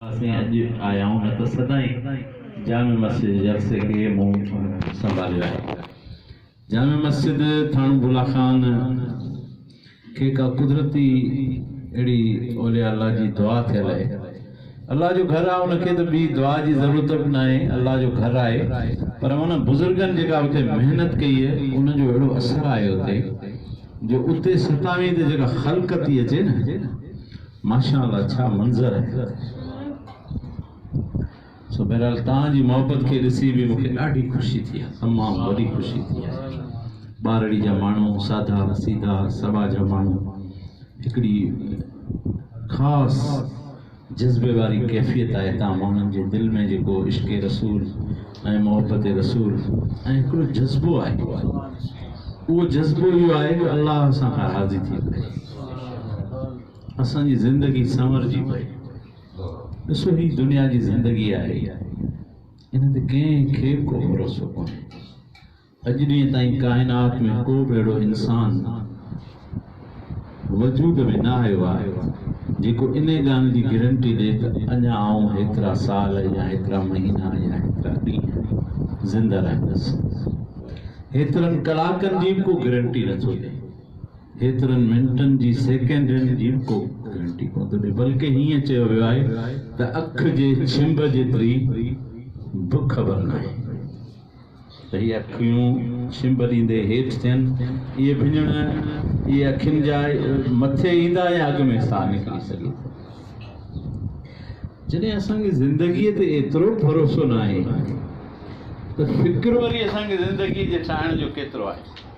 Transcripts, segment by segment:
اسين اڄ آيائون نه ته سدائين جامع مسجد جلسي کي مون سنڀاليو آهي. جامع مسجد ٿاڻو ڀولا خان کي ڪا قدرتي اهڙي اولياء الله جي دعا ٿيل آهي. الله جو گهر آهي ان کي ته ٻي دعا جي ضرورت به ناهي الله جو گهر آهي پر انهن بزرگن جيڪا اتي محنت ڪئي آهي ان جو اهڙو اثر آهي اتي جو اتي ستاوين ته جيڪا خلقت ٿي اچي نه ماشاء الله ڇا منظر آهي سو بهرحال توهان جي محبت کي ڏسي به مونکي ڏاڍي خوشي ٿي آهي تمام وڏي خوشي ٿي آهي ٻارڙي جا ماڻهو سادا سيدا سبا جا ماڻهو هڪڙي خاص جذبي واري ڪيفيت آهي تان ماڻهن جي دل ۾ جيڪو عشق رسول ۽ محبت رسول ۽ هڪڙو جذبو آهي اهو جذبو اهو آهي جو الله سان راضي ٿي پئي اسان جي زندگي سنورجي پئي. ڏسو هي دنيا جي زندگي آهي ان تي ڪنهن کي به ڪو ڀروسو ڪونهي. اڄ ڏينهن تائين ڪائنات ۾ ڪو به اهڙو انسان وجود ۾ نه آيو آهي جيڪو انهي ڳالهه جي گرنٽي ڏي ته اڃا آئون هيترا سال يا هيترا مهينا يا هيترا ڏينهن زنده رهندس. هيترن ڪلاڪن جي به ڪو گرنٽي نٿو ڏي. ايترن منٽن جي سيڪنڊن جي ڪو گرنٽي ڪونه ٿو ڏئي بلڪه هيئن چيو ويو آهي ته اک جي ڇنڀ جيتري به خبر ناهي ته هي اکيون ڇنڀ ڏيندي هيٺ ٿين اهي ڀڃڻ اهي اکين جا مٿي ايندا يا اڳ ۾ ساهه نڪري سگهي ٿو جڏهن اسان کي زندگيء تي ايترو ڀروسو ناهي ته فڪر وري اسان کي زندگيء جي ٺاهڻ جو ڪيترو آهي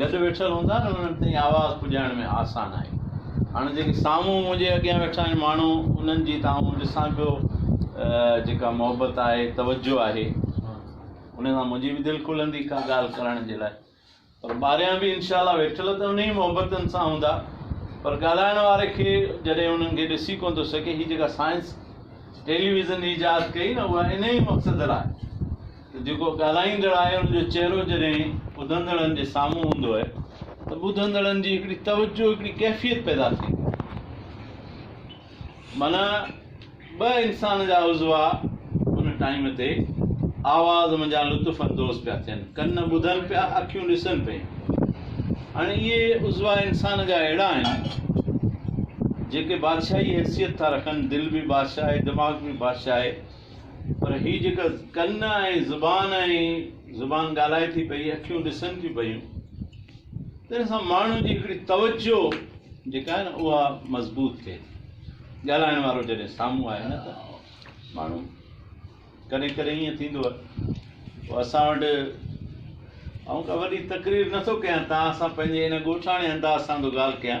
گڏ ويٺل هوندا نه انهن تائين آواز پڄائڻ ۾ آسان آهي. هاڻ جيڪي سامهون منهنجي اڳيان ويٺا آهن ماڻهو انهن جي ته آئون ڏسان پيو جيڪا محبت آهي توجه آهي انهن سان منهنجي به دل کلندي ڪا ڳالهه ڪرڻ جي لاء پر ٻاريان به انشاء الله ويٺل ته انهي محبتن سان هوندا پر ڳالهائڻ واري کي جڏهن انهن کي ڏسي ڪون ٿو سگهي هي جيڪا سائنس ٽيليويزن ايجاد ڪئي نه اها انهي مقصد لاء جيڪو ڳالهائيندڙ آهي ان جو چهرو جڏهن ٻڌندڙن جي سامهون هوندو آهي ته ٻڌندڙن جي هڪڙي توجهه هڪڙي ڪيفيت پيدا ٿئي ٿي معنيٰ ٻه انسان جا عضوا ان ٽائيم تي آواز منجهان لطف اندوز پيا ٿين ڪن ٻڌن پيا اکيون ڏسن پيون هاڻي اهي عضوا انسان جا اهڙا آهن جيڪي بادشاهي حيثيت ٿا رکن دل به بادشاهي دماغ به بادشاهي پر هي جيڪا ڪن ۽ زبان ۽ زبان ڳالهائي ٿي پئي، اکيون ڏسن ٿيون پيون، تنهن سان ماڻهو جي هڪڙي توجهه جيڪا آهي نه اها مضبوط ٿئي ٿي. ڳالهائڻ وارو جڏهن سامهون آهي نه ته ماڻهو ڪڏهن ڪڏهن ائين ٿيندو آهي اسان وٽ آئون ڪا وڏي تقرير نٿو ڪيان توهان سان پنهنجي ان ڳوٺاڻي انداز سان ٿو ڳالهه ڪيان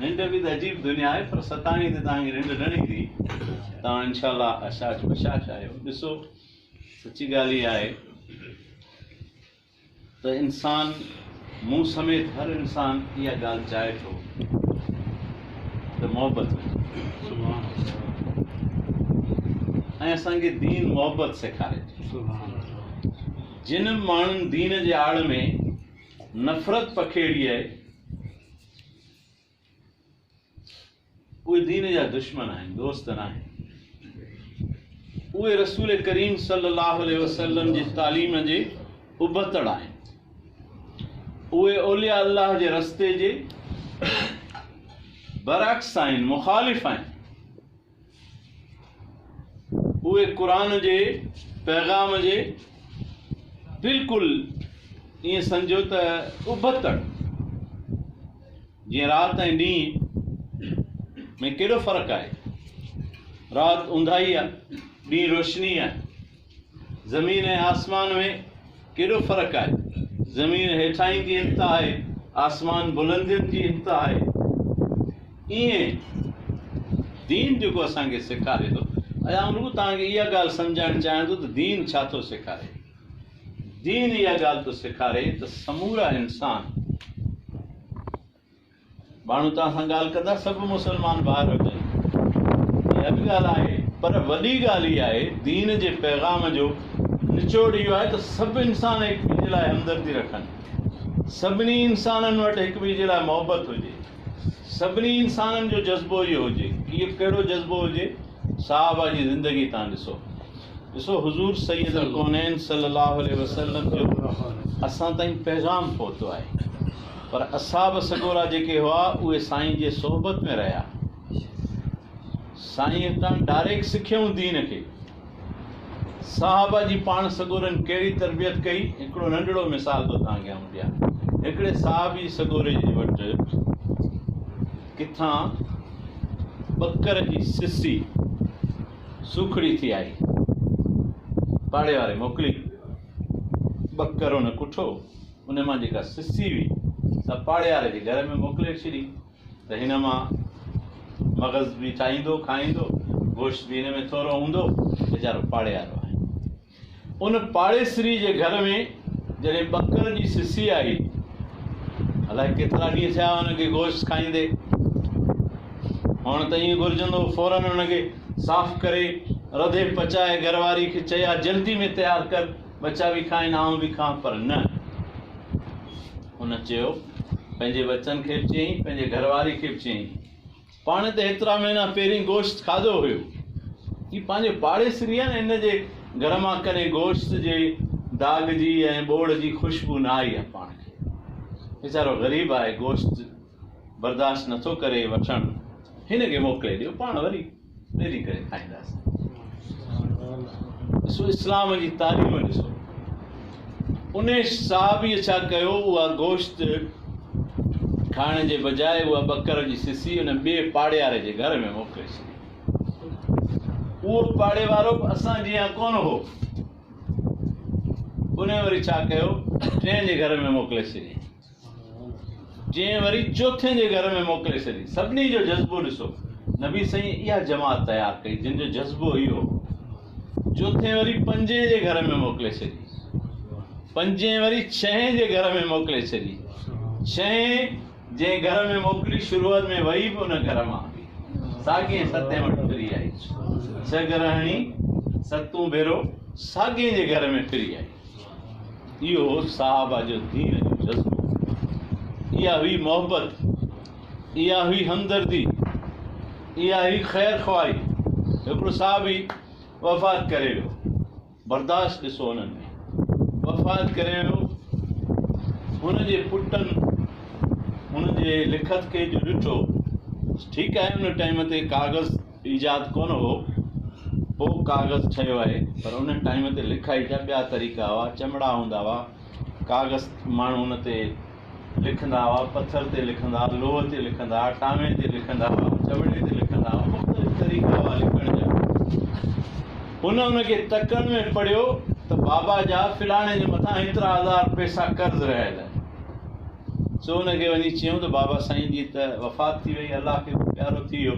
ننڊ به ته عجيب دنيا آهي پر ستائين تي توهان کي ننڊ نه ايندي توهان انشاء الله اشاش بشاش آهيو ڏسو سچي ڳالهه هي آهي ته انسان مون سميت هر انسان اها ڳالهه چاهي ٿو ته محبت ۽ اسانکي دين محبت سيکاري جن ماڻهن دين جي آڙ ۾ نفرت پکيڙي آهي اهي دين جا دشمن آهن، دوست ناهن. اهي رسول ڪريم صلي الله عليه وسلم جي تعليم جي ابتڙ آهن. اهي اولياء الله جي رستي جي برعڪس آهن، مخالف آهن. اهي قرآن جي پيغام جي بلڪل ائين سمجهو ته ابتڙ جيئن رات ۽ ڏينهن ۾ ڪيڏو فرق آهي رات اونداهي آهي ڏينهن روشني آهي زمين ۽ آسمان ۾ ڪيڏو فرق آهي. زمين هيٺاهين جي انتها آهي، آسمان بلندين جي انتها آهي. ايئن دين جيڪو اسان کي سيکاري ٿو آئون رڳو توهان کي اها ڳالهه سمجهائڻ چاهيان ٿو ته دين ڇا ٿو سيکاري. دين اها ڳالهه ٿو سيکاري ته سمورا انسان ماڻهو توهان سان ڳالهه ڪندا سڀ مسلمان ڀائر هجن اها به ڳالهه آهي پر وڏي ڳالهه هي آهي دين جي پيغام جو نچوڙ اهو آهي ته سڀ انسان هڪ ٻئي جي لاء همدردي رکن سڀني انسانن وٽ هڪ ٻئي جي لاء محبت هجي سڀني انسانن جو جذبو اهو هجي اهو ڪهڙو جذبو هجي صحابه جي زندگي تان ڏسو ڏسو حضور سيد القونين صلي الله عليه وسلم جو اسان تائين پيغام پهتو آهي پر اصحاب سڳورا جيڪي هئا اهي سائين جي صحبت ۾ رهيا سائين هتان ڊاريڪ سکيائون دين کي صحابه جي پاڻ سڳورن ڪهڙي تربيت ڪئي هڪڙو ننڍڙو مثال ٿو توهان کي آئون ڏيان هڪڙي صحابي سڳوري جي وٽ ڪٿان ٻڪر جي سسي سوکڙي ٿي آئي پاڙي واري موڪلي ٻڪر ان ڪٺو ان مان جيڪا سسي هئي، سا پاڙيهار جي گهر ۾ موڪلي ڇڏي ته هن مان مغز به ٺاهيندو، کائيندو، گوشت به هن ۾ ٿورو هوندو، ويچارو پاڙيهارو آهي. ان پاڙيسري جي گهر ۾ جڏهن ٻڪر جي سسي آئي، الائي ڪيترا ڏينهن ٿيا هئا ان کي گوشت کائيندي، هئڻ ته ائين گهرجندو هو فورن ان کي صاف ڪري، رڌي پچائي گهر واري کي چئي ها جلدي ۾ تيار ڪر، ٻچا به کائن آئون به کان پر نه هن چيو پنهنجي ٻچن کي به چيائين پنهنجي گهر واري کي به چيائين پاڻ ته هيترا مهينا پهرين گوشت کاڌو هيو هي پنهنجو پاڙيسري آهي نه هن جي گهر مان ڪڏهن گوشت جي داغ جي ۽ ٻوڙ جي خوشبو نه آئي آهي پاڻ کي ويچارو غريب آهي گوشت برداشت نٿو ڪري وٺڻ هن کي موڪلي ڏيو پاڻ وري ڏري ڪري کائينداسين. ڏسو اسلام جي تعليم ڏسو ان صحابي ڇا ڪيو اها گوشت کائڻ جي بجاء اها ٻڪر جي سسي ان ٻئي پاڙياري جي گهر ۾ موڪلي ڇڏي اهو پاڙي وارو به اسان جيان ڪون هو ان وري ڇا ڪيو ٽين جي گهر ۾ موڪلي ڇڏي جنهن وري چوٿين جي گهر ۾ موڪلي ڇڏي. سڀني جو جذبو ڏسو. نبي سائين اها جماعت تيار ڪئي جن جو جذبو اهو هو. چوٿين وري پنجين جي گهر ۾ موڪلي ڇڏي. پنجين وري ڇهين جي گهر ۾ موڪلي ڇڏي. ڇهين جنهن گهر ۾ موڪلي شروعات ۾ وئي به ان گهر مان هلي ساڳين ستين وٽ ڦري آئي. ڇهه گرهڻي ستون ڀيرو ساڳين جي گهر ۾ ڦري آئي. اهو هو صحابه جو دين جو جذبو، اها هئي محبت، اها هئي همدردي، اها هئي خير خواهي. هڪڙو صحابي وفات ڪري ويو، برداشت ڏسو انهن ۾ وفات ڪري ويو، هن جي پٽن هن جي لکت کي جو ڏٺو، ٺيڪ آهي ان ٽائيم تي ڪاغذ ايجاد ڪونه هو، پوء ڪاغذ ٺهيو آهي، پر ان ٽائيم تي لکائي جا ٻيا طريقا هئا، چمڙا هوندا هئا، ڪاغذ ماڻهو ان تي لکندا هئا، پٿر تي لکندا، لوهه تي لکندا، ٽانوي تي لکندا هئا، چمڙي تي لکندا هئا، مختلف طريقا هئا لکڻ جا. هن ان کي تڪن ۾ پڙهيو ته بابا جا فلاڻي جي مٿان هيترا هزار پئسا قرض رهيل آهن. سو ان کي وڃي چيو ته بابا سائين جي ته وفات ٿي وئي الله کي به پيارو ٿي ويو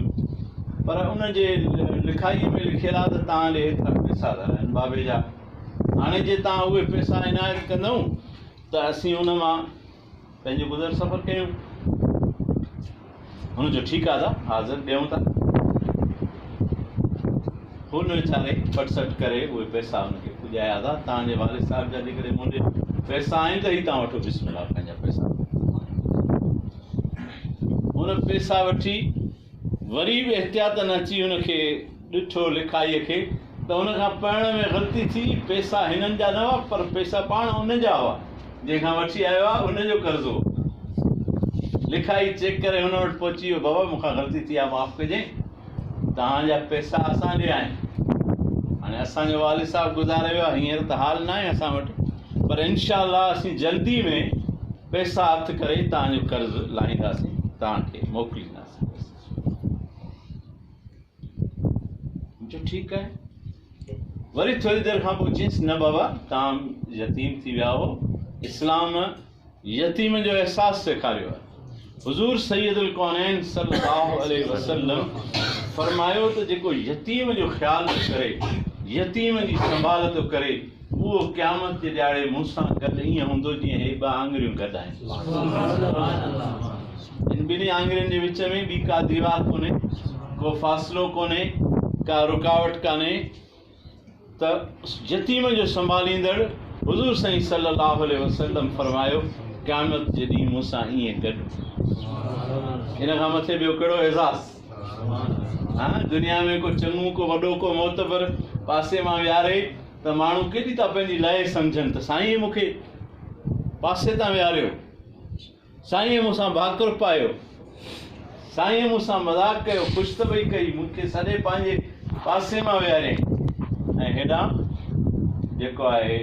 پر ان جي لکائي ۾ لکيل آ ته تان ڏي هيترا پيسا ٿا رهن بابي جا هاڻي جي تان اهي پيسا عنايت ڪندئون ته اسين ان مان پنهنجو گذر سفر ڪيون هن چيو، ٺيڪ آهي ته حاضر ڏيون ٿا. هن ويچاري ڦٽ سٽ ڪري اهي پئسا هن کي پڄايا ته توهان جي والد صاحب جا جيڪڏهن مون ڏي پئسا آهن ته هي توهان وٺو بسم الله پنهنجا پئسا. هن پئسا وٺي وري به احتياطن اچي هن کي ڏٺو لکائيء کي ته هن کان پڙهڻ ۾ غلطي ٿي، پئسا هنن جا نه هئا، پر پئسا پاڻ ان جا هئا، جنهن کان وٺي آيو آ، ان جو قرض هو. لکائي چيڪ ڪري هن وٽ پهچي ويو، بابا مون کان غلطي ٿي آ، معاف ڪجين، توهان جا پئسا اسان ڏي آهن. هاڻي اسان جو والد صاحب گذاري ويو آ، هينئر ته حال ناهي اسان وٽ، پر انشاء الله اسين جلدي ۾ پئسا هٿ ڪري توهان جو قرض لاهينداسين، توهان کي موڪلينداسين. جو ٺيڪ آهي. وري ٿوري دير کان پوء چيس نه بابا توهان يتيم ٿي ويا آهو اسلام يتيم جو احساس سيکاريو آهي حضور سيد الڪونين صلي الله عليه وسلم فرمايو ته جيڪو يتيم جو خيال ٿو ڪري يتيم جي سنڀال ٿو ڪري اهو قيامت جي ڏياڙي مون سان گڏ ائين هوندو جيئن هي ٻه آڱريون گڏ آهن. ان ٻنهي آڱرين جي وچ ۾ ٻي ڪا ديوار ڪونهي، ڪو فاصلو ڪونهي، ڪا رڪاوٽ ڪانهي ته يتيم جو سنڀاليندڙ حضور سائين صلي الله عليه وسلم فرمايو قيامت جي ڏينهن مون سان ائين گڏ ان کان مٿي ٻيو ڪهڙو اعزاز. ها دنيا ۾ ڪو چڱو ڪو وڏو ڪو معتبر پاسي مان ويهاري ته ماڻهو ڪيڏي ٿا پنهنجي لائق سمجهن ته سائينء مون کي پاسي تان ويهاريو سائينء مون سان ڀاڪر پايو سائينء مون سان مذاق ڪيو خوش ته وئي ڪئي مون کي سڏي پنهنجي پاسي مان ويهاريائين ۽ هيڏانهن جيڪو آهي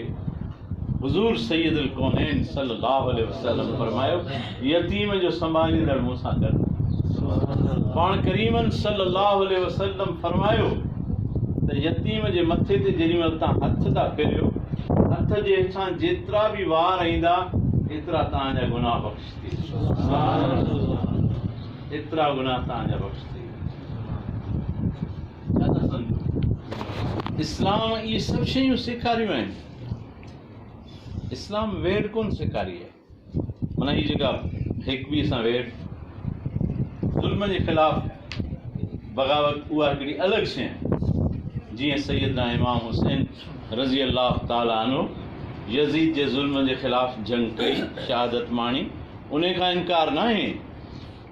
حضور سيد الڪونين صلّي اللّٰه عليه وسلّم فرمايو، يتيم جو سنڀاليندڙ مون سان گڏ آهي. پاڻ ڪريمن صلّي اللّٰه عليه وسلّم فرمايو ته يتيم جي مٿي تي جيڏي مهل توهان هٿ ٿا ڦيريو، هٿ جي هيٺان جيترا به وار ايندا، ايترا توهان جا گناهه بخش ٿي ويندا. ايترا گناهه توهان جا بخش ٿي ويندا. اسلام اهي سڀ شيون سيکاريون آهن. اسلام ويڙهه ڪونه سيکاري آهي. معنيٰ هي جيڪا هڪ ٻئي سان ويڙهه، ظلم جي خلاف بغاوت اها هڪڙي الڳ شيء آهي. جيئن سيدنا امام حسين رضي الله تعالٰي عنه يزيد جي ظلم جي خلاف جنگ ڪئي، شهادت ماڻي، انهي کان انڪار ناهي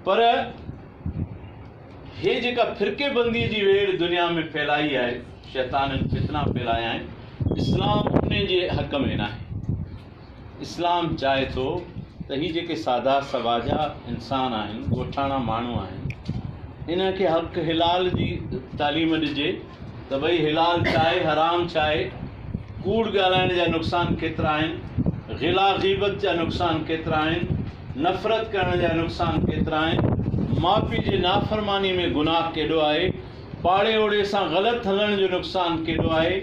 پر هيء جيڪا فرقي بنديء جي ويڙهه دنيا ۾ ڦهلائي آهي، شيطانن فتنا ڦهلايا آهن، اسلام ان جي حق ۾ ناهي. اسلام چاهي ٿو ته هي جيڪي سادا سٻاجها انسان آهن، ڳوٺاڻا ماڻهو آهن، انهن کي حق حلال جي تعليم ڏجي ته ڀئي حلال ڇاهي حرام ڇاهي، ڪوڙ ڳالهائڻ جا نقصان ڪيترا آهن، غلا غيبت جا نقصان ڪيترا آهن، نفرت ڪرڻ جا نقصان ڪيترا آهن، ماء پيء جي نافرماني ۾ گناهه ڪيڏو آهي، پاڙي اوڙي سان غلط هلڻ جو نقصان ڪيڏو آهي،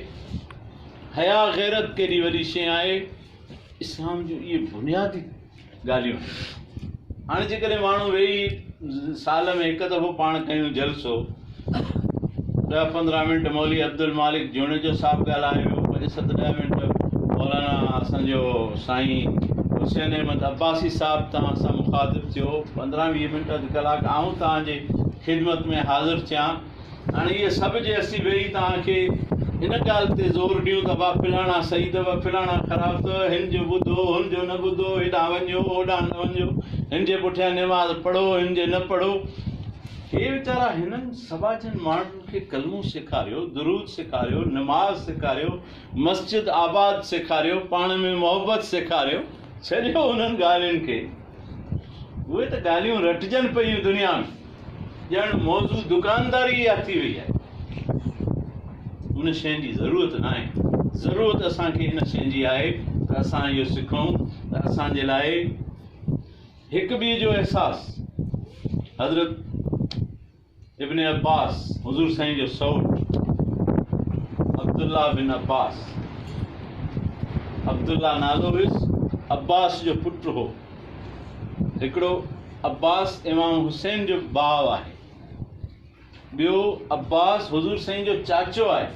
حياء غيرت ڪيڏي وڏي شيء آهي، اسلام جون اهي بنيادي ڳالهيون آهن. هاڻي جيڪڏهن ماڻهو ويهي سال ۾ هڪ دفعو پاڻ ڪيون جلسو، ڏهه پندرهن منٽ مولوي عبدالمالڪ جوڻيجو صاحب ڳالهايو، پنج ست ڏهه منٽ مولانا اسان جو سائين حسين احمد عباسي صاحب توهان سان مخاطب ٿيو، پندرهن ويهه منٽ اڌ ڪلاڪ آئون توهان جي خدمت ۾ حاضر ٿيان، هاڻي اهي سڀ جي اسين ويهي توهان کي ان ڳالهه تي زور ڏيون ته وا فلاڻا صحيح اٿو فلاڻا خراب اٿو، هن جو ٻڌو هن جو نه ٻڌو، هيڏانهن وڃو هوڏانهن نه وڃو، هن جي پٺيان نماز پڙهو هن جي نه پڙهو. هي ويچارا هنن سوا جن ماڻهن کي ڪلمو سيکاريو، درود سيکاريو، نماز سيکاريو، مسجد آباد سيکاريو، پاڻ ۾ محبت سيکاريو، ڇڏيو انهن ڳالهين کي، اهي ته ڳالهيون رٽجن پيون دنيا ۾، ڄڻ موضوع دڪانداري اها ٿي وئي آهي. ان شين جي ضرورت ناهي، ضرورت اسان کي ان شين جي آهي ته اسان اهو سکون ته اسان جي لاء هڪ ٻئي جو احساس حضرت ابن عباس حضور سائين جو سئوٽ عبدالله بن عباس عبدالله نالو هيس عباس جو پٽ هو هڪڙو عباس امام حسين جو ڀاء آهي ٻيو عباس حضور سائين جو چاچو آهي.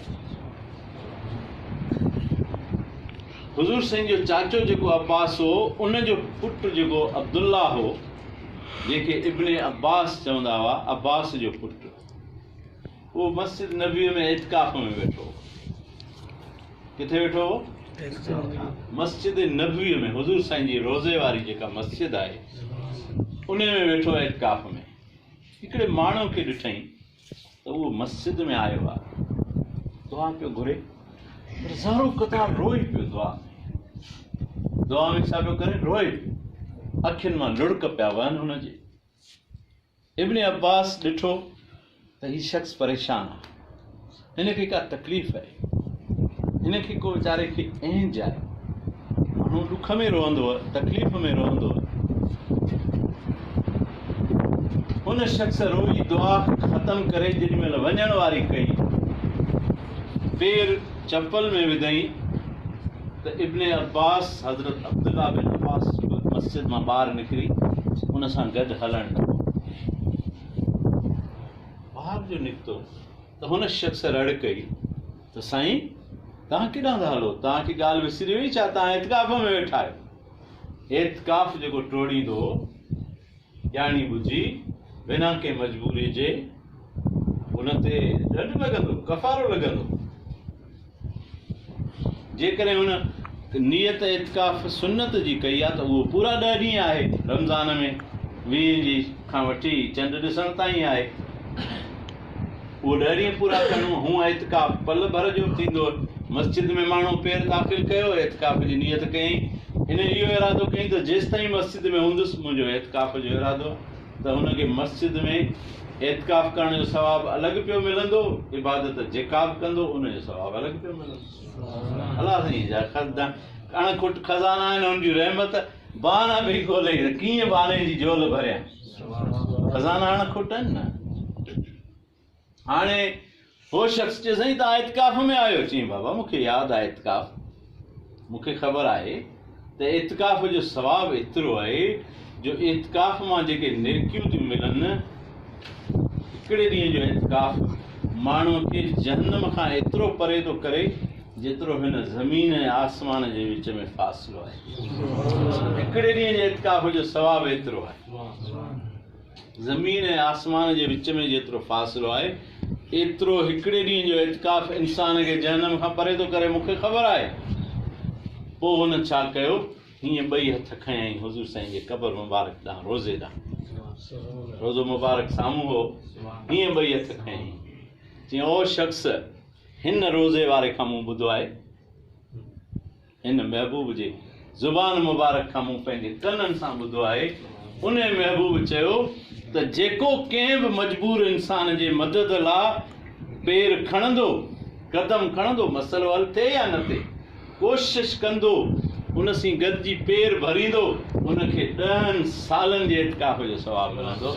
حضور سائين جو چاچو جيڪو عباس هو ان جو پٽ جيڪو عبدالله هو جنهن کي ابن عباس چوندا هئا عباس جو پٽ اهو مسجد نبوي ۾ اعتڪاف ۾ ويٺو ڪٿي ويٺو هو مسجد نبوي ۾ حضور سائين جي روزي واري جيڪا مسجد آهي ان ۾ ويٺو اعتڪاف ۾ هڪڙي ماڻهوء کي ڏٺائين ته اهو مسجد ۾ آيو آهي، دعا پيو گهري، هزارون قطار روئي پيو دعا ۾، دعا ۾ ڇا پيو ڪري؟ روئي پيو، اکين مان لڙڪ پيا وهن هن جي. ابن عباس ڏٺو ته هي شخص پريشان آهي. هن کي ڪا تڪليف آهي، هن کي ڪو ويچاري کي اهنج آهي، ماڻهو ڏک ۾ روئندو، تڪليف ۾ روئندو، ان شخص روئي دعا ختم ڪري جيڏي مهل وڃڻ واري ڪئي، پير چپل ۾ وڌئين ته ابن عباس حضرت عبدالله بن عباس مسجد مان ٻاهر نڪري ان سان گڏ هلڻ لڳو. ٻاهر جو نڪتو ته هن شخص رڙ ڪئي ته سائين توهان ڪيڏانهن ٿا هلو؟ توهان کي ڳالهه وسري وئي ڇا؟ توهان اعتڪاف ۾ ويٺا آهيو. اعتڪاف جيڪو ٽوڙيندو ڄاڻي ٻجهي بنا ڪنهن مجبوري جي ان تي ڏنڊ لڳندو، ڪفارو لڳندو. جيڪڏهن هن نيت اعتڪاف سنت جي ڪئي آهي ته اهو پورا ڏهه ڏينهن آهي، رمضان ۾ ويهين جي کان وٺي چنڊ ڏسڻ تائين آهي، اهو ڏهه ڏينهن پورا ڪندو، هونء اعتڪاف پل ڀر جو به ٿيندو، مسجد ۾ ماڻهو پير داخل ڪيو، اعتڪاف جي نيت ڪيائين، هن اهو ارادو ڪيائين ته جيستائين مسجد ۾ هوندس منهنجو اعتڪاف جو ارادو آهي. ته هن کي مسجد ۾ اعتڪاف ڪرڻ جو ثواب الڳ پيو ملندو عبادت جيڪا به ڪندو ان جو ثواب الڳ پيو ملندو الله سائين جا خزانا اڻ کٽ خزانا آهن ان جي رحمت بهانا به کولي ڪيئن بهاني جي جول ڀريان خزانا اڻ کٽ آهن نه هاڻي هو شخص چيو سائين تان اعتڪاف ۾ آهيو چيائين بابا مون کي ياد آهي اعتڪاف مون کي خبر آهي ته اعتڪاف جو ثواب ايترو آهي جو اعتڪاف مان جيڪي نيڪيون ٿيون ملن هڪڙي ڏينهن جو اعتڪاف ماڻهو کي جهنم کان ايترو پري ٿو ڪري جيترو هن زمين ۽ آسمان جي وچ ۾ فاصلو آهي هڪڙي ڏينهن جي اعتڪاف جو ثواب ايترو آهي زمين ۽ آسمان جي وچ ۾ جيترو فاصلو آهي، ايترو هڪڙي ڏينهن جو اعتڪاف انسان کي جهنم کان پري ٿو ڪري، مون کي خبر آهي. پوء هن ڇا ڪيو؟ هيئن ٻئي هٿ کنيائين حضور سائين جي قبر مبارڪ ڏانهن روضي ڏانهن. روضو مبارڪ سامهون هو. هيئن ٻئي هٿ کنيائين. چيائين، او شخص! هن روضي واري کان مون ٻڌو آهي. هن محبوب جي زبان مبارڪ کان مون پنهنجي ڪنن سان ٻڌو آهي، انهيء محبوب چيو ته جيڪو ڪنهن به مجبور انسان جي مدد لا پير کڻندو، قدم کڻندو، مسئلو حل ٿئي يا نه ٿئي، ڪوشش ڪندو، ان سين گڏجي پير ڀريندو، ان کي ڏهن سالن جي اعتڪاف جو ثواب ملندو.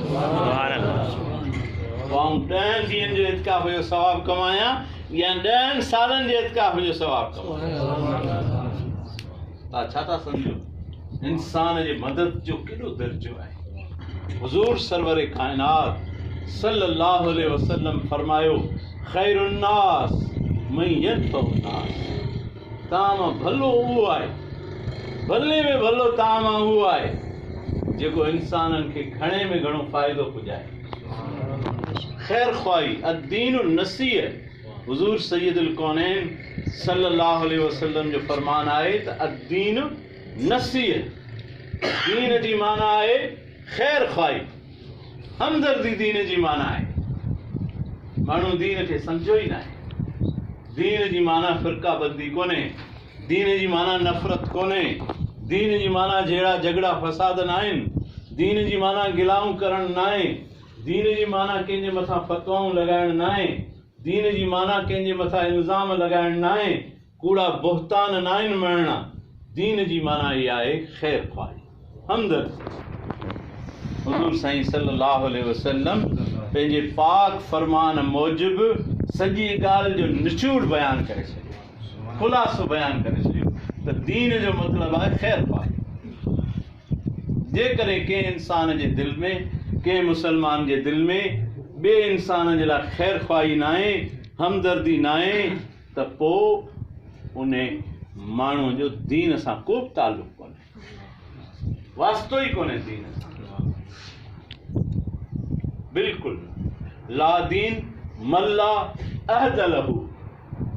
آئون ڏهن ڏينهن جو اعتڪاف جو ثواب ڪمايان. يا ڏهن سالن جي اعتڪاف جو ثواب ڪمائي ڇا ٿا سمجهو انسان جي مدد جو ڪيڏو درجو آهي حضور سرور ڪائنات صلي الله عليه وسلم فرمايو خير الناس من ينفع الناس تام ڀلو اهو آهي ڀلي ۾ ڀلو تام اهو آهي جيڪو انسانن کي گهڻي ۾ گهڻو فائدو پڄائي خير خواهي الدين النصيح حضور سيد الڪونين صلي الله عليه وسلم جو فرمان آهي ته الدين نصيح دين جي معنی آهي خير خواهي همدردي دين جي معنی آهي ماڻهو دين کي سمجھيو ئي ناهي دين جي معنی فرقه بندي ڪونهي دين جي معنيٰ نفرت ڪونهي، دين جي معنيٰ جهيڙا جهڳڙا فساد ناهن، دين جي معنيٰ گلائون ڪرڻ ناهي، دين جي معنيٰ ڪنهن جي مٿان فتوائون لڳائڻ ناهي، دين جي معنيٰ ڪنهن جي مٿان الزام لڳائڻ ناهي، ڪوڙا بهتان ناهن مڙهڻا، دين جي معنيٰ هي آهي خير خواهي. اندر حضور سائين صلي الله عليه وسلم پنهنجي پاڪ فرمان موجب سڄي ڳالهه جو نچوڙ بيان ڪري ڇڏيو خلاصو بيان ڪري ڇڏيو ته دين جو مطلب آهي خير پاڪ جيڪڏهن ڪنهن انسان جي دل ۾ ڪنهن مسلمان جي دل ۾ ٻئي انسان جي لاء خير خواهي نه آهي همدردي نه آهي ته پوء ان ماڻهوء جو دين سان ڪو به تعلق ڪونهي واسطو ئي ڪونهي دين سان بلڪل نه لا دين ملا عهد له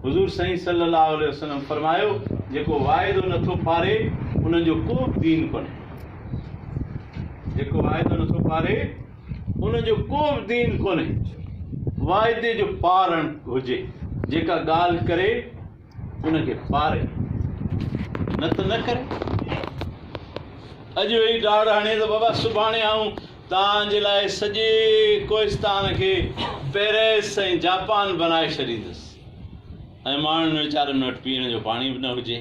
حضور سائين صلي الله عليه وسلم فرمايو جيڪو واعدو نٿو پاري ان جو ڪو به دين ڪونهي جيڪو واعدو نٿو پاري ان جو ڪو به دين ڪونهي واعدي جو پارڻ هجي جيڪا ڳالهه ڪري ان کي پاري نه ته نه ڪري. اڄ ويهي ڊاڙ هڻي ته بابا سڀاڻي آئون توهان جي لاء سڄي ڪوهستان کي پئرس ۽ جاپان بنائي ڇڏيندس ۽ ماڻهن ويچارن وٽ پيئڻ جو پاڻي به نه هجي.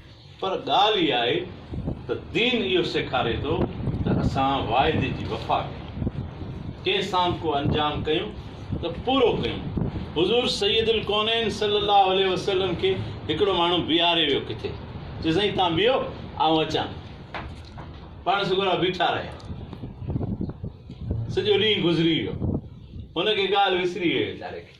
پر ڳالهه اها آهي ته دين اهو سيکاري ٿو ته اسان واعدي جي وفا ڪيون، ڪنهن سان به ڪو انجام ڪيون ته پورو ڪيون. حضور سيد الڪونين صلي الله عليه وسلم کي هڪڙو ماڻهو بيهاري ويو ڪٿي، چيو سائين تان بيهو آئون اچان ٿو. پاڻ سڳورا بيٺا رهيا. سڄو ڏينهن گذري ويو. هن کي ڳالهه وسري ويئي ويچاري کي.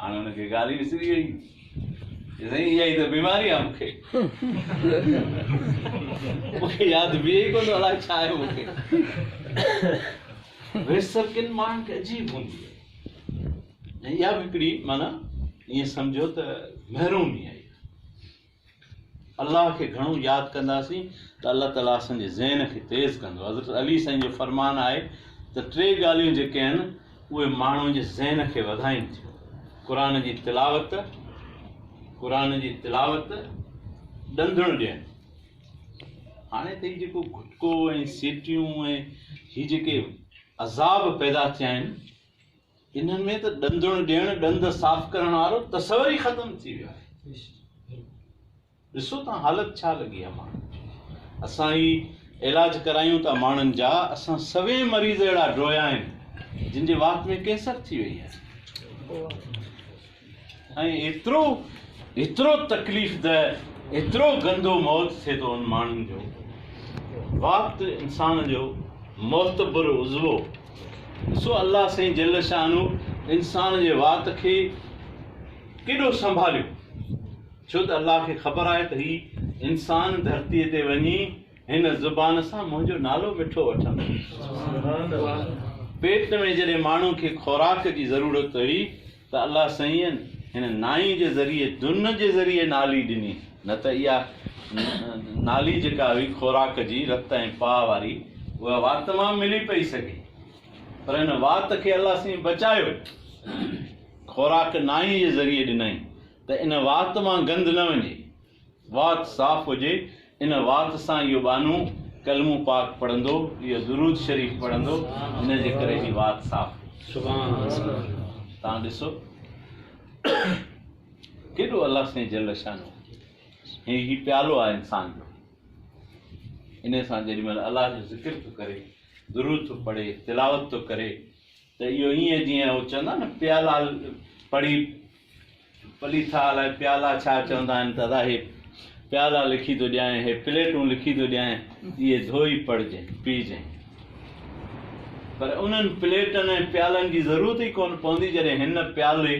هاڻي هن کي ڳالهه ئي وسري ويئي چي سائين اها ئي ته بيماري آهي مون کي مون کي ياد بيهي ئي ڪونه ٿو الاء ڇا آهي مون کي ويس ڪن ماڻهن کي عجيب هوندي آهي ۽ اها به هڪڙي معنيٰ ائين سمجهو ته محرومي آهي الله کي گهڻو ياد ڪنداسين ته الله تعالي اسان جي ذهن کي تيز ڪندو حضرت علي سائين جو فرمان آهي ته ٽي ڳالهيون جيڪي آهن اهي ماڻهو جي ذهن کي وڌائين ٿيون قرآن جي تلاوت قرآن جي تلاوت ڏندڻ ڏيڻ هاڻي ته هي جيڪو گھٽڪو ۽ سيٽيون ۽ هي جيڪي عذاب پيدا ٿيا آهن انهن ۾ ته ڏندڻ ڏيڻ، ڏند صاف ڪرڻ وارو تصور ئي ختم ٿي ويو آهي. ڏسو ته حالت ڇا لڳي آهي ماڻهن جي. اسان هي علاج ڪرايون ٿا ماڻهن جا، اسان سوين مريض اهڙا ڊوهيا آهن، جن جي وات ۾ ڪينسر ٿي وئي آهي. ۽ ايترو ايترو تڪليف ده ايترو گندو موت ٿئي ٿو ان ماڻهن جو وقت انسان جو معتبر عضوو ڏسو الله سائين جل شانه انسان جي وات کي ڪيڏو سنڀاليو ڇو ته الله کي خبر آهي ته هي انسان ڌرتي تي وڃي هن زبان سان منهنجو نالو مٺو وٺندو پيٽ ۾ جڏهن ماڻهو کي خوراڪ جي ضرورت هئي ته الله سيئن هن نائي جي ذريعي دن جي ذريعي نالي ڏني، نه ته اها نالي جيڪا هئي خوراڪ جي رت ۽ پاء واري اها وات مان ملي پئي سگهي پر هن وات کي الله سيئن بچايو خوراڪ نائي جي ذريعي ڏنائين ته ان وات مان گند نه وڃي. وات صاف هجي ان وات سان اهو ٻانهو ڪلمو پاڪ پڙهندو اهو درود شريف پڙهندو ان جي ڪري هي وات صاف سبحان الله تان ڏسو ڪيڏو الله سائين جل شانو هي هي پيالو آ انسان جو ان سان جيڏي مهل الله جو ذڪر ٿو ڪري درود ٿو پڙهي تلاوت ٿو ڪري ته اهو ائين جيئن هو چوندا آهن نه پيالا پڙهي پلي ٿا الائي پيالا ڇا چوندا آهن ته ادا هي پيالا لکي ٿو ڏيانء هي پليٽون لکي ٿو ڏيانء اهي ڌوئي پڙهجين پيجين پر انهن پليٽن ۽ پيالن جي ضرورت ئي ڪونه پوندي جڏهن هن پيالي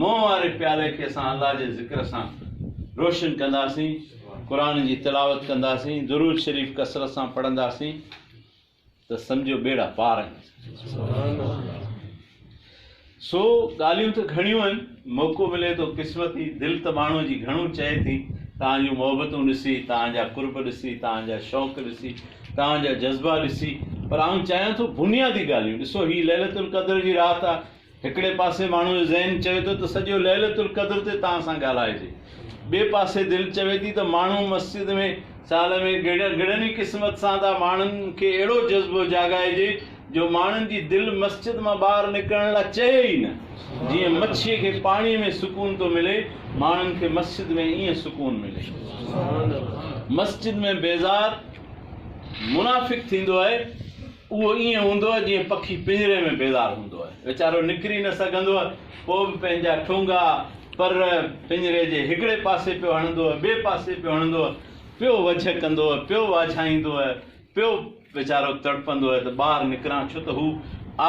مون واري پيالي کي اسان الله جي ذڪر سان روشن ڪنداسين قرآن جي تلاوت ڪنداسين درود شريف ڪثرت سان پڙهنداسين ته سمجهو ٻيڙا پار آهن. سو ڳالهيون ته گهڻيون آهن، موقعو ملي ٿو قسمتي، دل ته ماڻهوء جي گهڻو چئي ٿي، توهان جون محبتون ڏسي، توهان جا قرب ڏسي، توهان جا شوق ڏسي، توهان جا جذبا ڏسي، پر آئون چاهيان ٿو بنيادي ڳالهيون ڏسو، هي ليلة القدر جي رات آهي، هڪڙي پاسي ماڻهو جو ذهن چوي ٿو ته سڄو ليلة القدر تي توهان سان ڳالهائجي. ٻئي پاسي دل چوي ٿي ته ماڻهو مسجد ۾ سال ۾ گهڙن گهڙن ئي قسمت سان ٿا ماڻهن کي اهڙو جذبو جاڳائجي جو ماڻهن جي دل مسجد مان ٻاهر نڪرڻ لا چهي ئي نه. جيئن مڇيء کي پاڻيء ۾ سڪون ٿو ملي ماڻهن کي مسجد ۾ ائين سڪون ملي. مسجد ۾ بيزار منافق ٿيندو آهي. اهو ائين هوندو آهي جيئن پکي پڃري ۾ بيزار هوندو آهي. ويچارو نڪري نه سگهندو آهي، پوء به پنهنجا ٺونگا، پر، پڃري جي هڪڙي پاسي پيو هڻندو آهي، ٻئي پاسي پيو هڻندو آهي، پيو وجهه ڪندو آهي، پيو واجهائيندو آهي، پيو ويچارو تڙپندو آهي ته ٻاهر نڪران ڇو ته هو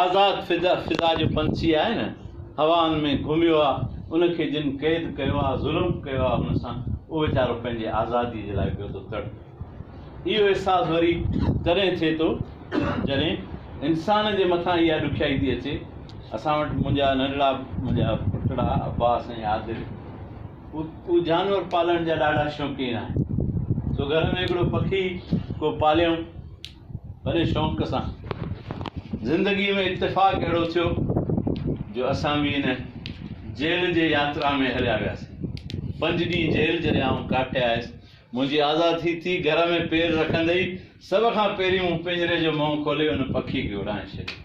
آزاد فضا جو پنڇي آهي نه، هوائن ۾ گهميو آهي، ان کي جن قيد ڪيو آهي، ظلم ڪيو آهي هن سان، اهو ويچارو پنهنجي آزاديء جي لاء پيو ٿو تڙپي. اهو احساس وري تڏهن ٿئي ٿو جڏهن انسان جي مٿان اها ڏکيائي ٿي اچي. اسان وٽ منهنجا ننڍڙا منهنجا پٽڙا عباس ۽ عادل اهي جانور پالڻ جا ڏاڍا شوقين آهن. سو گهر ۾ هڪڙو پکي ڪو پاليائون وڏي شوق سان. زندگي ۾ اتفاق اهڙو ٿيو جو اسان به ان جيل جي ياترا ۾ هليا وياسين. پنج ڏينهن جيل جڏهن آئون ڪاٽي آيس منهنجي آزاد ٿي ٿي گهر ۾ پير رکندي ئي سڀ کان پهرين مون پڃري جو منهن کولي ان پکي کي اڙائي ڇڏيو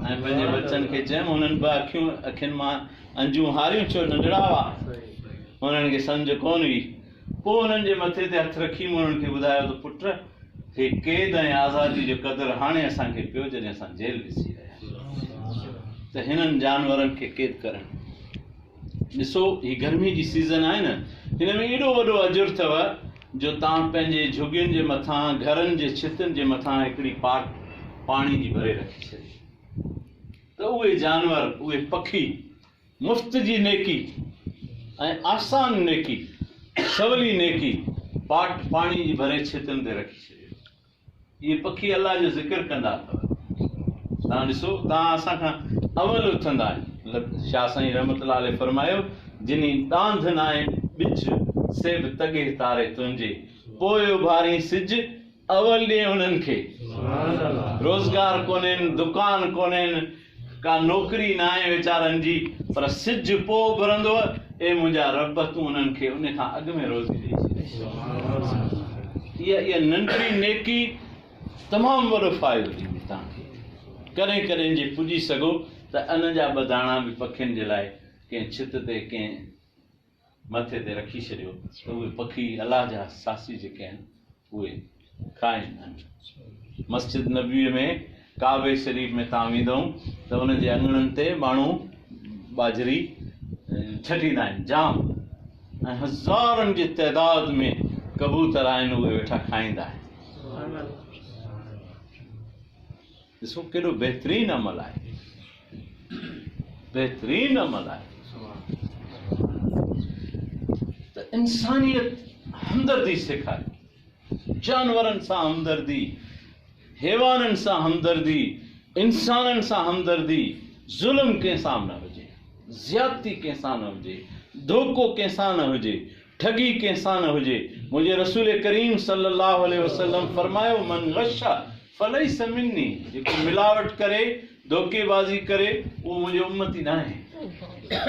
۽ پنهنجي ٻچن کي چيم انهن به اکيون اکين مان انجون هاريون ڇو ننڍڙا هئا انهن کي سمجهه ڪونه هئي پوء انهن جي مٿي تي هٿ رکي مون انهن کي ٻڌايو ته پٽ هي قيد ۽ آزادي جو قدر هاڻي اسان کي پيو جڏهن اسان جيل ڏسي رهيا آهيون ته هنن جانورن کي قيد ڪرڻ ڏسو هي گرمي جي سيزن آهي نه هن ۾ ايڏو وڏو اجر اٿو جو توهان پنهنجي جهڳين جي مٿان گهرن جي ڇتن جي مٿان هڪڙي پاٽ پاڻي جي ڀري رکي ڇڏي ته اهي جانور اهي پکي مفت جي نيڪي ۽ آسان نيڪي سولي نيڪي پاٽ پاڻي جي ڀري ڇتن تي رکي ڇڏي اهي پکي الله جو ذڪر ڪندا اٿو. توهان ڏسو توهان اسان کان اول اٿندا آهيو. شاهه سائين رحمت الله عليه فرمايو، جني ڏانڌ ناهي ٻچ، سي به تڳهي تاري تنهنجي، پوء اڀارين سج، اول ڏي انهن کي. روزگار ڪونهين، دڪان ڪونهين، ڪا نوڪري ناهي ويچارن جي، پر سج پوء اڀرندوء، اي منهنجا ربّ! تون انهن کي ان کان اڳ ۾ روزي ڏئي ڇڏ. اها ننڍڙي نيڪي تمام وڏو فائدو ڏيندي توهان کي. ڪڏهن ڪڏهن جي پڄي سگهو ته ان جا ٻه داڻا به پکين جي لاء ڪنهن ڇت تي ڪنهن. مٿي تي رکي ڇڏيو ته اهي پکي الله جا ساسي جيڪي آهن اهي کائين ۽ مسجد نبوي ۾ ڪعبي شريف ۾ تان ويندؤن ته ان جي اڱڻن تي ماڻهو ٻاجهري ڇٽيندا آهن جام ۽ هزارن جي تعداد ۾ ڪبوتر آهن اهي ويٺا کائيندا آهن ڏسو ڪيڏو بهترين عمل آهي بهترين عمل آهي ته انسانيت همدردي سيکاري جانورن سان همدردي حيوانن سان همدردي انسانن سان همدردي ظلم ڪنهن سان نه هجي زيادتي ڪنهن سان نه هجي ڌوڪو ڪنهن سان نه هجي ٺڳي ڪنهن سان نه هجي منهنجي رسول ڪريم صلي الله عليه وسلم فرمايو من غش فليس مني، جيڪو ملاوٽ ڪري، ڌوڪي بازي ڪري، اهو منهنجو امتي ناهي.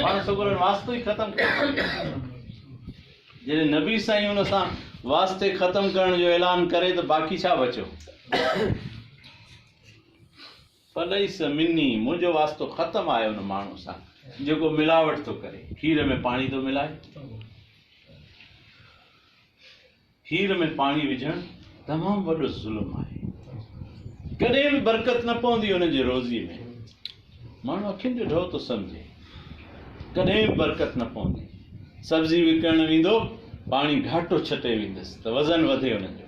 پاڻ سگهو هن واسطو ئي ختم ڪري ڇڏيو. جڏهن نبي سائين ان سان واسطي ختم ڪرڻ جو اعلان ڪري ته باقي ڇا بچيو؟ فليس مني، منهنجو واسطو ختم آهي ان ماڻهو سان جيڪو ملاوٽ ٿو ڪري، کير ۾ پاڻي ٿو ملائي. کير ۾ پاڻي وجهڻ تمام وڏو ظلم آهي ڪڏهن به برڪت نه پوندي انهن جي روزي ۾ ماڻهو اکين جو ڍؤ ٿو سمجهي ڪڏهن به برڪت نه پوندي سبزي وڪڻڻ ويندو پاڻي گهاٽو ڇٽي ويندس ته وزن وڌي انهن جو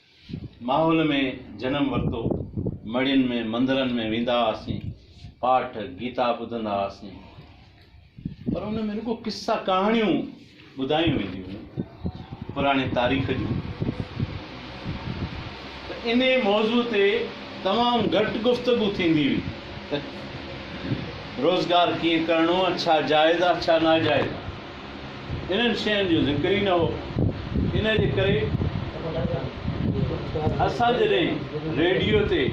ماحول ۾ جنم ورتو، مڙهين ۾ مندرن ۾ ويندا هئاسين، پاٺ گيتا ٻڌندا هئاسين پر ان ۾ رڳو قصا ڪهاڻيون ٻڌايون وينديون هيون پراڻي تاريخ جون ته ان موضوع تي تمام گهٽ گفتگو ٿيندي هئي ته روزگار ڪيئن ڪرڻو ڇا جائز آ ڇا ناجائز آ انهن شين جو ذڪر ئي نه هو. ان جي ڪري اسان جڏهن ريڊيو تي،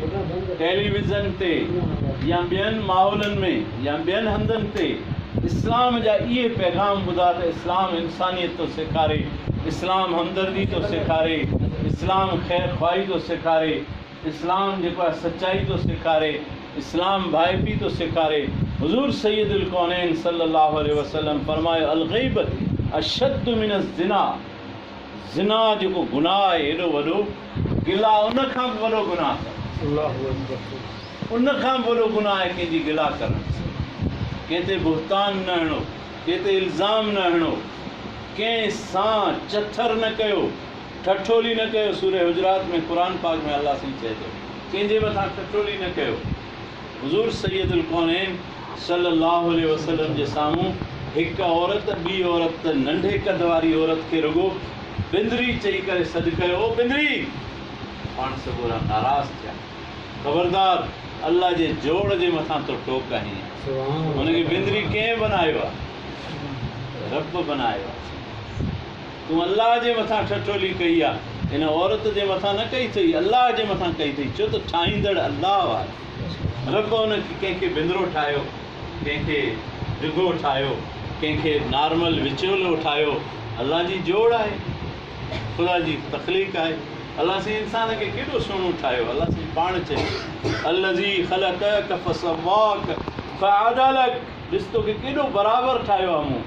ٽيلي ويزن تي يا ٻين ماحولن ۾ يا ٻين هنڌن تي اسلام جا اهي پيغام ٻڌا ته اسلام انسانيت ٿو سيکاري، اسلام همدردي ٿو سيکاري، اسلام خير خواهي ٿو سيکاري، اسلام جيڪو آهي سچائي ٿو سيکاري، اسلام ڀائپي ٿو سيکاري، حضور سيد الڪونين صلّي اللّٰه عليه وسلّم فرمايو، الغيبة اشد من الزنا، زنا جيڪو گناهه آهي هيڏو وڏو، گلا ان کان به وڏو گناهه ڪرڻ، ان کان به وڏو گناهه آهي ڪنهن جي گلا ڪرڻ، ڪنهن تي بهتان نه هڻو، ڪنهن تي الزام نه هڻو، ڪنهن سان چٿر نه ڪيو، ٺٺولي نه ڪيو سوره حجرات ۾ قرآن پاڪ ۾ الله سائين چئي ٿو ڪنهن جي مٿان ٺٺولي نه ڪيو حضور سيد الڪونين صلي الله عليه وسلم جي سامهون هڪ عورت ٻي عورت ته ننڍي قد واري عورت کي رڳو بندري چئي ڪري سڏ ڪيو او بندري پاڻ سڳورا ناراض ٿيا خبردار الله جي جوڙ جي مٿان تو ٽوڪ آهين هن کي بندري ڪنهن بنايو آهي رب بنايو آهي تون الله جي مٿان ٺٺولي ڪئي آ، ان عورت جي مٿان نه ڪئي اٿئي، الله جي مٿان ڪئي اٿئي، ڇو ته ٺاهيندڙ الله آهي. رب ان کي ڪنهن کي بندرو ٺاهيو، ڪنهن کي ڊگهو ٺاهيو، ڪنهن کي نارمل وچولو ٺاهيو، الله جي جوڙ آهي، خدا جي تخليق آهي، الله سائين انسان کي ڪيڏو سهڻو ٺاهيو، الله سائين پاڻ چئي ٿو، الذي خلقك فسواك فعدلك، ڏس توکي ڪيڏو برابر ٺاهيو آهي مون.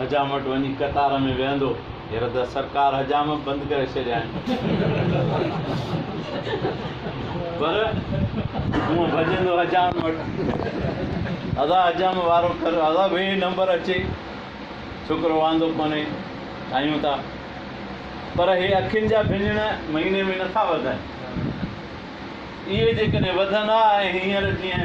حجام وٽ وڃي قطار ۾ ويهندو. هينئر ته سرڪار حجام به بند ڪري ڇڏيا آهن. پر هونء ڀڄندو حجام وٽ. ادا حجام وارو ڪر ادا ويهه نمبر اچي. ڇوڪرو واندو ڪونهي. ٺاهيون ٿا. پر هي اکين جا ڀڃڻ مهيني ۾ نٿا وڌن. اهي جيڪڏهن وڌن ها ۽ هينئر جيئن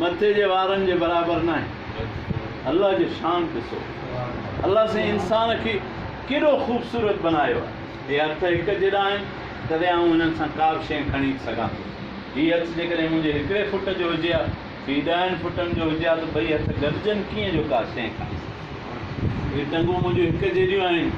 مٿي جي وارن جي برابر ناهي الله جي شان ڏسو الله سائين انسان کي ڪيڏو خوبصورت بنايو آهي هي هٿ هڪ جيڏا آهن تڏهن آئون هنن سان ڪا به شيء کڻي سگهان ٿو هي هٿ جيڪڏهن منهنجي هڪڙي فٽ جو هجي ها هي ڏهن فٽن جو هجي ها ته ٻئي هٿ گڏجن ڪيئن جو ڪا شيء کڻي سگهان هي ٽنگون منهنجون هڪ جيڏيون آهن